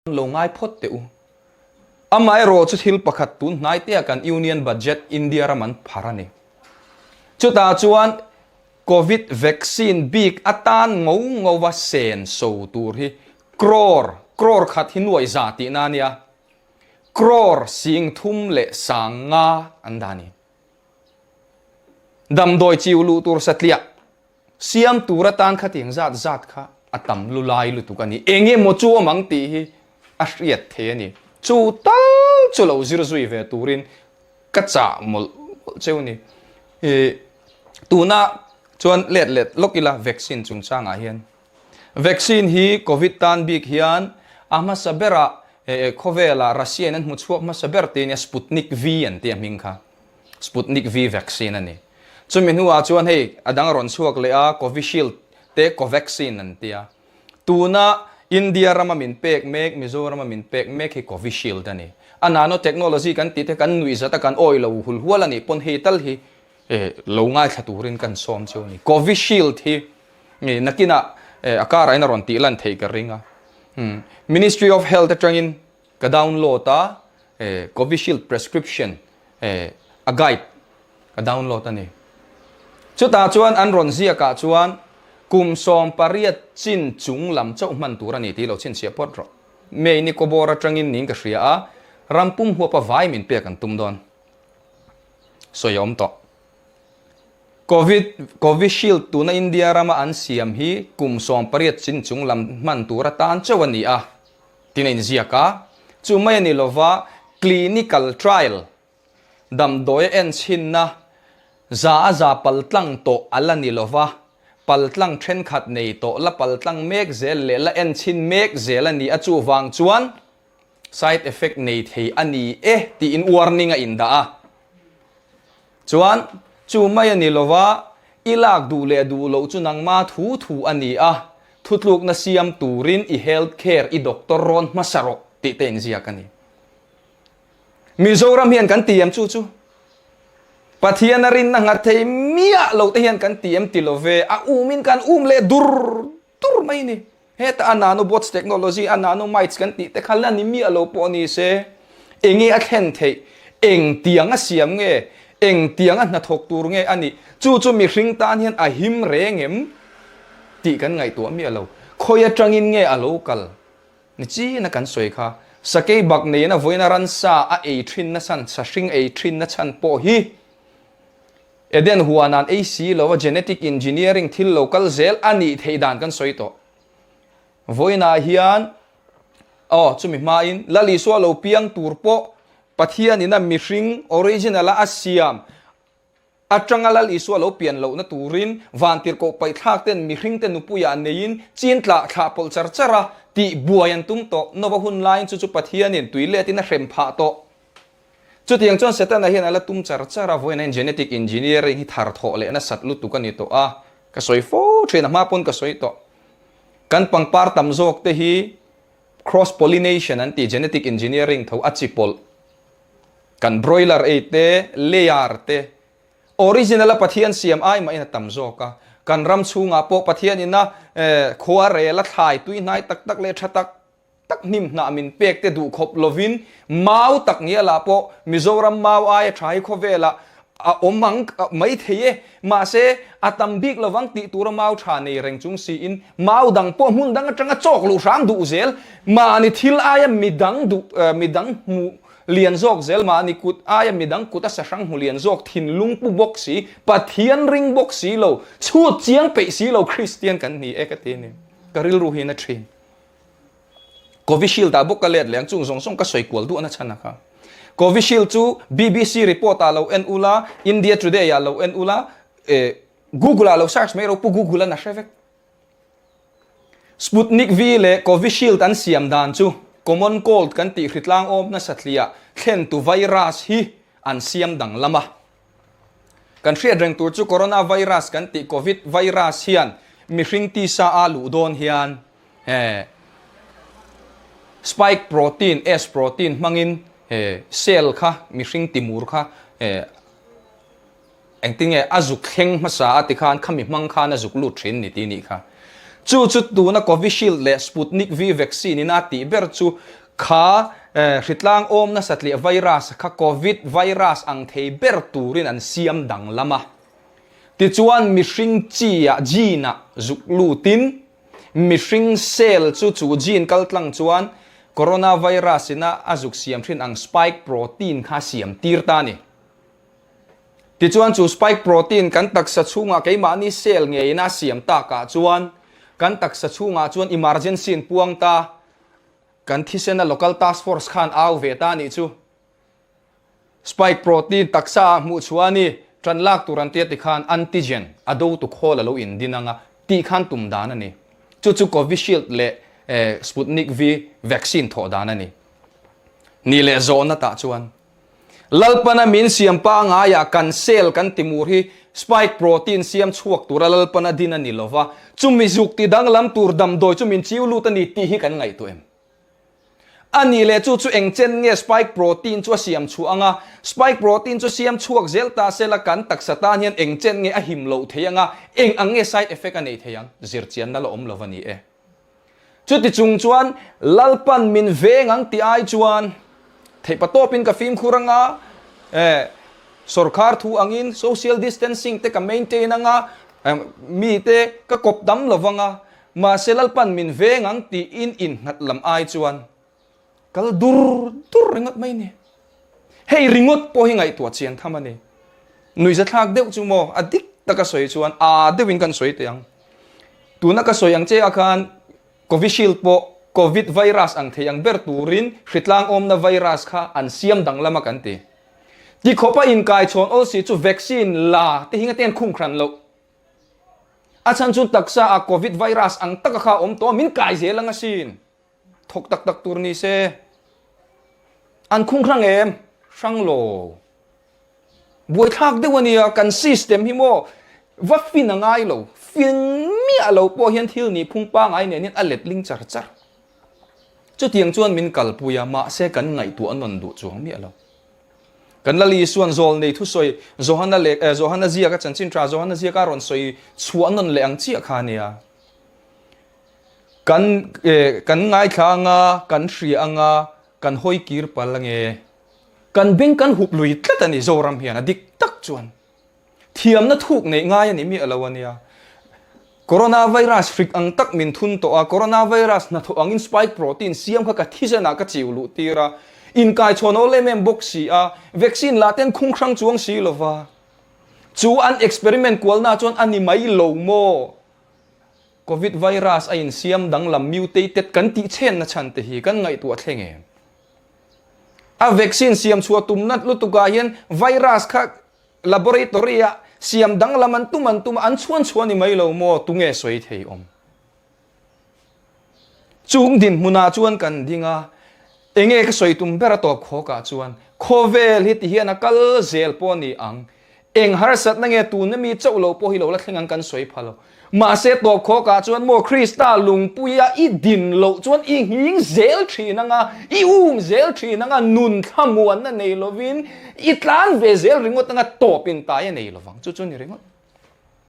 Hman lo ngai phawt teh u. Amaherawh chu thil pakhat tun hnai teh a kan Union Budget India ram an phar a ni. Chutah chuan Covid vaccine bik atan ngo ngo a sen so tur hi crore, crore khat hi nuaih zah tih na a nia, crore sing thum leh sang nga an dah a ni. Damdawi chiu luh tur satliah Siam tur atan kha tiang zat zat kha a tam lu lai lutuk a ni. Eng emaw chu awm ang tih hi a hriat thei a ni. Chu tal chu lo zir zui ve turin ka chah mawlh mawlh cheu ni. Ih tuna chuan let let lawk ila vaccine chungchangah hian vaccine hi Covid tan bik hian a hmasa bera khawvela Russia-in an hmu chhuak hmasa ber tih a nia Sputnik V an ti a hming kha. Sputnik V vaccine a ni. Chumi hnuah chuan hei a dang rawn chhuak leh a, Covishield te Covaxin an tia. Tuna India rama min pek mek, Mizoram a min pek mek hi Covishield a ni. A nanotechnology kan tih te kan nuih zat a, kan awi lo hul hual a nih pawn hei tal hi lo ngaithla turin kan sawm chu a ni. Covishield hi nakinah a karain a rawn tih lan thei ka ring a. Ministry of Health atangin. Ka download a eh covishield prescription eh a guide ka download ani chutah chuan an rawn ziak ah chuan kum sawm pariat chin chung lam chauh hman tur ani tih lo chhinchhiah phawt rawh mei ni kawbawr atangin niin ka hria a ram pum huapa vai min pek an tum dawn sawi a awm tawh covid covishield tuna india rama an siam hi kum sawm pariat chin chung lam hman tur atan chauh ania. tin a inziak a, chu mai a ni lova clinical trial, damdawi en chhinna, za a za pal tlang tawh a la ni lova, pal tlang thenkhat nei tawh la, pal tlang mek zel leh la en chhin mek zel a ni a, chuvang chuan side effect nei thei a ni e tiin warning a indah a. Chuan, Chu mai a ni lo va, i lak duh leh duh loh chu nangma thu thu a ni a, thutlukna siam turin i health care, i doctor rawn hmasa rawh tih te inziak a ni. Mizoram hian kan ti em chu chu, Pathiana rinna nghat thei miah lo te hian kan ti em ti lo ve, a umin kan um leh dur Tur mai ni. Heta a nanobots technology, a nanomites kan tih te kha la ni miah lo pawh ni se, enge a thlen theih, eng tiang a siam nge, eng tiang a hnathawk tur nge a nih, chu chu mihring tan hian a him reng em? tih kan ngaihtuah miah lo. Khawi atangin nge a lo kal? Ni chin a kan sawi kha. Sakei bak neina vawiin a ran sa a ei thin nasa, sa hring ei thin nachhan pawh hi Eden huanan ei si lo a genetic engineering thil lo kal zel a nih theih dan kan sawi tawh. Vawiinah hian, aw, chumi hmain, Lal Isua lo piang tur pawh Pathian ina mihring, original a, a siam atanga Lal Isua lo pian lohna turin vantirhkoh paihthlak ten mihring te nupuiah neiin chin tla thlah pawlh char char a tih buai an tum tawh. Noah hun laiin chu chu Pathianin tui letin a hrem phah tawh. Chutiang chuan Setana hian a la tum char char a, vawiin a in genetic engineering hi thar thawh leh nasat lutuk a ni tawh a, ka sawi fo thin a, hma pawn ka sawi tawh. Kan pangpar tam zawk te hi cross pollination an ti, genetic engineering tho a chi pawlh. Kan broiler ei te, layer te, original a Pathian siam ai mahin a tam zawk a, kan ram chhungah pawh Pathian ina eh khua rel a thlai tui hnai tak tak leh tha tak tak hnim hnah min pek te duh khawp lovin mau tak nia lah pawh Mizoram mau aia tha hi khawvela a awm ang maithei e, mahse a tam bik lovang tih tura mau tha nei reng chung siin mau dang pawh hmun dang atanga chawk luh hrang duh zel mahni thil aia midang duh midang hmu lian zawk zel mahni kut aia midang kut a sa hrang hmu lian zawk thinlung pu bawk si Pathian ring bawk silo chhut chiang peih silo Kristian kan ni e ka ti anih ka rilru hian a thin. Covishield ah bawk ka let leng chung zawng zawng ka sawi kual duah na chhan a kha. Covishield chu BBC report ah lo en ula, India Today ah lo en ula, eh Google ah lo search mai ro pu Google a na hre vek. Sputnik V leh Covishield an siam dan chu common cold kan tih hritlang awm nasa thliah thlen tu virus hi an siam danglam a. Kan hriat reng tur chu Corona Virus kan tih Covid Virus hian mihring tisa a luh dawn hian he Spike Protein, S Protein, hmangin he cell kha, mihring timur kha he engtin nge a zuk thleng hmasa a tikhan khami hmang khan a zuk lut thin ni tih nih kha. Chu chu tuna Covishield leh Sputnik V vaccine-ina tih ber chu Kha hritlang awm nasa tleh virus kha Covid virus ang thei ber turin an siam danglam a. Tichuan mihring chia gene-a zuk lutin mihring cell chu chu gene kaltlang chuan Coronavirus ina a zuk siam thin ang spike protein kha siam tir ta ni. Tichuan chu spike protein kan taksa chhungah keimahni cell ngeiin a siam takah chuan kan taksa chhungah chuan emergency an puang ta, Kan thisena local task force khan au ve ta nih chu spike protein taksa ah hmuh chhuah a ni, tan lak tur an tia tikhan antigen a do tuk hawl a lo in din ang a tih khan tum dan a ni. Chu chu Covishield leh Sputnik V vaccine thawh dan a ni. Nih leh zawhna tah chuan. Lalpana min siam pangai ah kan cell kan ti mur hi spike protein siam chhuak tur a lalpana din a ni lo va, chumi zuk ti danglam tur damdawi chu min chiu lut a ni tih hi kan ngaihtuah em? A ni leh chu, chu eng chen nge spike protein chu a siam chhuah anga? Spike protein chu siam chhuak zel ta cell a kan taksa tan hian eng chen nge a him loh thei anga, eng ang nge side effect a nei thei ang? Zir chian na la awm lo va ni e. Chuti chung chuan Lalpan min veng ang ti ai chuan theihpa tawpin ka fimkhur anga, eh, sorkar thu angin social distancing te ka maintain anga mite ka kawp dam lo vang a, mahse Lalpan min veng ang tiin innghat lam ai chuan Kal dur dur ringawt mai ni. Hei ringawt pawh hi ngaihtuah chian tham a ni. Nui zathlak deuh chu maw a dik taka sawi chuan aa deuh in kan sawi teh ang. Tuna ka sawi ang che a khan Covishield pawh Covid virus ang thei ang ber turin hritlang awmna virus kha an siam dang lam a kan ti. Ti khawpa inkai chhawn awl si chu vaccine la te hi ngatein khum hran loh. A chhan chu taksa ah Covid virus ang taka kha awm tawh a min kai zel ang asin. thawk tak tak tur ni se an khung hrang em hrang lo buai thlak deuh ania kan system hi maw va fin a ngai lo fin miah lo pawh hian thil ni phung pangai nen hian a let ling char char chutiang chuan min kal pui a mahse kan ngaihtuah a nawn duh chuang miah lo kan lal isuan zawl nei thu sawi Johana lek eh, Johana ziaka chanchin tha Johana ziaka rawn sawi chhuah nawn leh ang chiah kha ania Kan kan ngaithlang a, kan hria ang a, kan hawi kir pal ang e. Kan beng kan hup lui tlat a ni, Zoram hian a dik tak chuan. Thiamna thuk neih ngai a nih miah lo a nia. Coronavirus hrik ang tak min thun tawh a, Coronavirus hnathawh angin spike protein siam kha ka thisen ah ka chiu luh tir a, inkaichhawn aw lem em bawk si a, vaccine lah ten khunghrang chuang si lo va. Chu an experiment kualna chuan a ni mai lo maw? Covid virus a insiam danglam mutated kan tih chenna chhante hi kan ngaihtuah thleng em? A vaccine siam chhuah tumna lutukah hian virus kha laboratory-ah siam danglam an tum an tum a, an chhuan chhuah ni mai lo maw? Tunge sawi theiawm? Chung dinhmunah chuan kan ding a, Eng nge ka sawi tum bera tawp khawk ah chuan khawvel hi ti hian a kal zel pawh ni ang. Eng harsat na nge tuna mi chauh lo pawh hi lo la thleng ang kan sawi pha lo. Mahse tawp khawk ah chuan maw Krista lungpui a i din loh chuan i nghing zel thin anga, i um zel thin anga nun thlamuan na nei lovin i tlan ve zel ringawt anga tawp in tai a nei lovang. Chu chu ni ringawt.